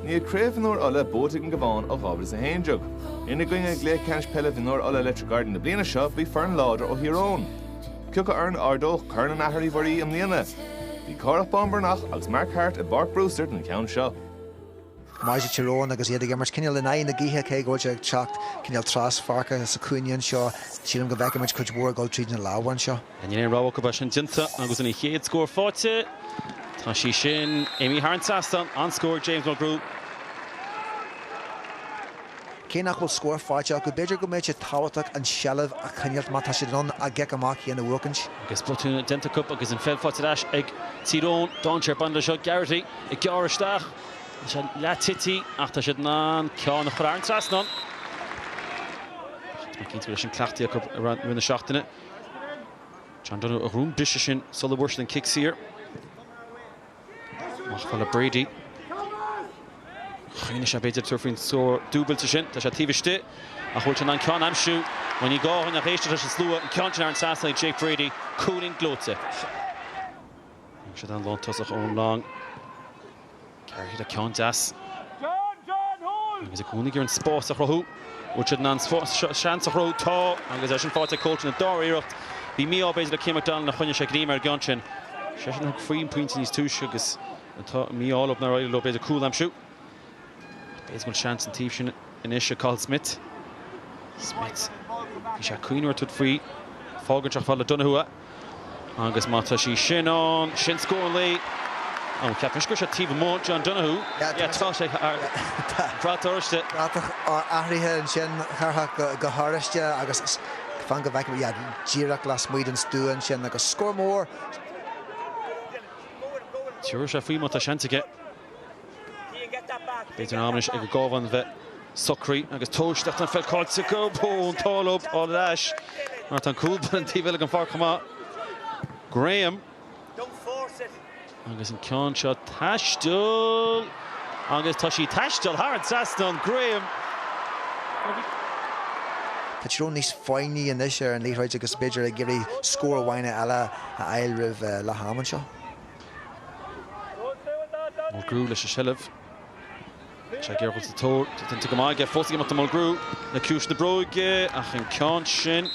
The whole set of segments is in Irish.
Níl Craobh Mhionúir Uladh buaite ag an gCabhán ó 2011. Ina gcoinne i gcluiche ceannais peile mhionúir Uladh Electric Ireland na bliana seo bhí foireann láidir ó Thír Eoghain. Cé acu foireann a ardódh Corn an Athair Uí Mhuirí i mbliana. Bhí Cárthach Bán Breathnach agus Mark Harte i bPáirc Brewster don cheann seo. Maidir le Tír Eoghain agus iad ag imirt cineál in aghaidh na gaoithe cé go bhfuil sé ag teacht cineál traspháirce sa chúinne anseo. Sílim go bhfeicfidh muid cuid mhór ag dul tríd na lámha anseo. Níl aon rogha acu beidh sin déanta agus an chéad scór faighte. Tá sí sin imithe thar an trasnán, an scór, James Mulgrew. Cé nach bhfuil scór faighte acu, b'fhéidir go mbeidh sé tábhachtach an tseilbh a choinneáilt má tá siad in ann a gcic amach féin a bhuachaint. Agus botún déanta acu agus an pheil faighte ar ais ag Tír Eoghain, dainséar ag baint leis seo, Garrity ag gearradh isteach tá sé leath tite ach tá siad in ann ceann a chur thar an trasnán. Tá mé cinnte go raibh sin cleachtaithe acu i rith na seachtaine. John Donoghue a ghnóthaigh an briseadh sin sula bhfuair siad an cic saor. Amach fhad le Brady. Chuimhnigh sé b'fhéidir tabhairt faoin scór dúbailte sin, Tá sé taobh istigh ach bhfuil sé in ann ceann a aimsiú? Bhuel ní gá dhúinn ach éisteacht leis an slua, an ceann sin thar an trasnán ag Jake Brady, cúilín gleoite. Thóg siad an lántosach Eoin Long. Garrity, ceann deas. Agus ag cúnaigh ar an spás a chruthú. Bhfuil siad in ann seans a chruthú? Tá! Agus é sin faighte ag Colton ina dhara iarracht. Bhí mí-ádh b'fhéidir le Cian McDonald nár choinnigh sé greim ar an gceann sin. Seisean a thug faoin pointe níos túisce agus tá mí-ádh leo nár éirigh leo b'fhéidir cúl a aimsiú. B'fhéidir go bhfuil seans an taobh sin anois ag Cathal Smith. Smith, bhí sé ag cuimhneamh ar thabhairt faoi. Fágann sé fhad le Donohue. Agus má tá sí sin ann, sin scór Laoi. Ó, ceapaim go raibh sé taobh amuigh John Donohue. Tá sé, brat oráiste. Bratach athraithe ansin, a Chárthaigh, go horáiste agus fan go bhfeicim, yeah, díreach lasmuigh den stua ansin agus scór mór. Tiúrfaidh sé faoi má tá seans aige. B'fhéidir am anois ag an gCabhán a bheith socraí agus tomhaiste ach an pheil caillte acu. An t-ádh leo í a fháil ar ais mar tá an cúl báire an taobh eile den pháirc chomh maith. Graham agus an ceann seo ag taisteal agus tá sí ag taisteal thar an trasnán, Graham. Tá Tír Eoghain níos foighní anois ar an liathróid agus b'fhéidir ag iarraidh scór amháin eile a fháil roimh leath am anseo. Mulgrew leis an seilbh. Sé Gearailt sa tóir. Tá déanta go maith aige fós ag imeacht do Mulgrew. Le ciumhais na bróige ach an ceann sin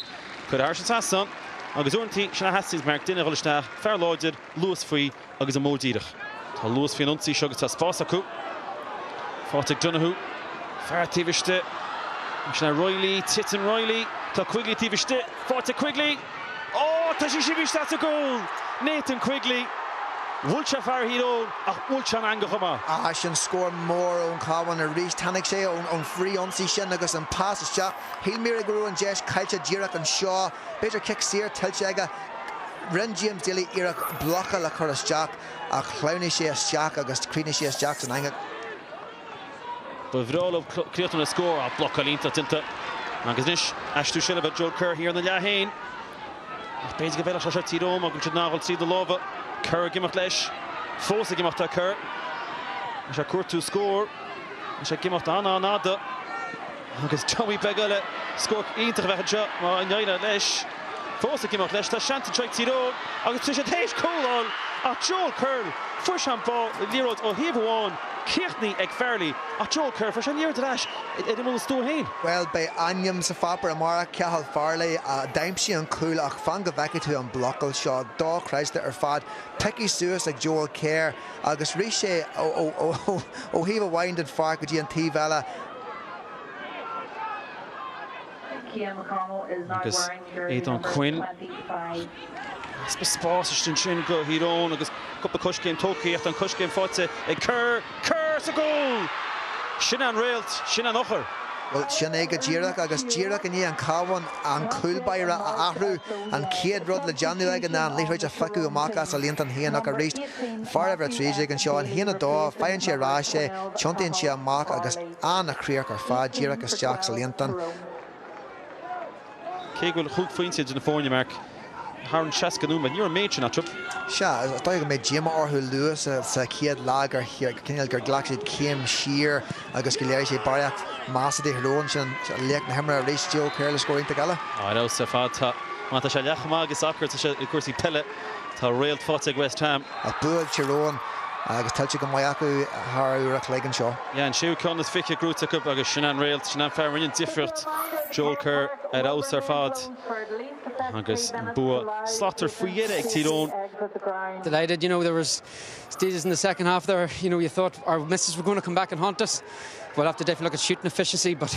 curtha thairis an trasnán. Agus uaireantaí sin a theastaíonns mar duine a dhul isteach, fear láidir, luas faoi agus an modh díreach. Tá luas faoin ionsaí seo agus tá spás acu. Faighte ag Donoghue. Fear taobh istigh. Sin é Reilly. Titeann Reilly. Tá Quigley taobh istigh. Faighte ag Quigley. Ó, tá sí sin istigh sa gcúl! Nathan Quigley, bhuail sé fear Thír Eoghain ach bhuail sé an eangach chomh maith. Ach sin scór mór ón Chabhán arís. Tháinig sé ón frithionsaí sin agus an pas isteach. Shíl muid go raibh an deis caillte díreach anseo. B'fhéidir cic saor tuillte aige. Rinn James Daly iarracht blocáil a chur isteach ach shleamhnaigh sé isteach agus chríochnaigh sé isteach san eangach. Ba bhreá leo críochnú le scór ach blocáil iontach déanta agus anois aistriú seilbhe Joel Kerr thiar ina leath féin ach b'fhéidir go bhfeilfeadh sé seo Tír Eoghain agus iad in ann a ghoil tríd na lámha. Kerr ag imeacht leis. Fós ag imeacht tá Kerr. Tá sé ag cuartú scór. Tá sé ag imeacht an-an-fhada. Agus dummy beag eile, scór iontach a bheadh anseo má éiríonn leis. Fós ag imeacht leis, tá seans anseo ag Tír Eoghain agus tá siad théis cúl a fháil ach Joel Kerr fuair sé an ball le liathróid ó thaobh amháin, críochnaithe ag Farley ach Joel Kerr fuair sé an liathróid ar ais ar imeall an stua féin. Bhuel beidh ainm sa pháipéar amárach, Cathal Farley a d'aimsigh an cúl ach fan go bhfeicfidh tú an blocáil seo, dochreidte ar fad, pioctha suas ag Joel Kerr agus rith sé ó thaobh amháin den pháirc go dtí an taobh eile, Agus Aodhán Quinn, easpa spáis istigh ansin do Thír Eoghain agus cúpla coiscéim tógtha ach tá an coiscéim faighte ag Kerr, Kerr sa gcúl! Sin é an réalt, sin é an eochair. Bhuel, sin é go díreach agus díreach i ndiaidh an Cabhán an cúl báire a athrú, an chéad rud le déanamh aige ná an liathróid a phiocadh amach as a líontán fhéin ach arís, Fear uimhir a trí déag anseo, an haon a dó, faigheann sé ar ais é, tiontaíonn sé amach agus an-chríoch ar fad díreach isteach sa líontán. Cé go bhfuil chúig phointe idir na foirne, Mark, thar an seasca nóiméad, ní raibh an méid sin eatarthu. Sea, is dóigh go mbeidh díomá orthu luath sa chéad leath gur cinéal gur ghlac siad céim siar agus gur léirigh siad barraíocht measa do Thír Eoghain ansin laoch na himeartha arís, Joel Kerr le scór iontach eile. Ar fheabhas ar fad. Má tá sé leath chomh maith ag sacar is atá sé i gcúrsaí peile. Tá réalt faighte ag West Ham. Ach bua ag Tír Eoghain agus tuillte go maith acu thar uair a chloig anseo. Yeah, an séú ceann is fiche gnóite acu agus sin an réalt, sin an fear a rinne an difríocht, Joel Kerr ar fheabhas ar fad agus an bua slachtmhar faoi dheireadh ag Tír Eoghain. Delighted, you know there was stages in the second half there, you know you thought our misses were going to come back and haunt us, we'll have to definitely look at shooting efficiency but,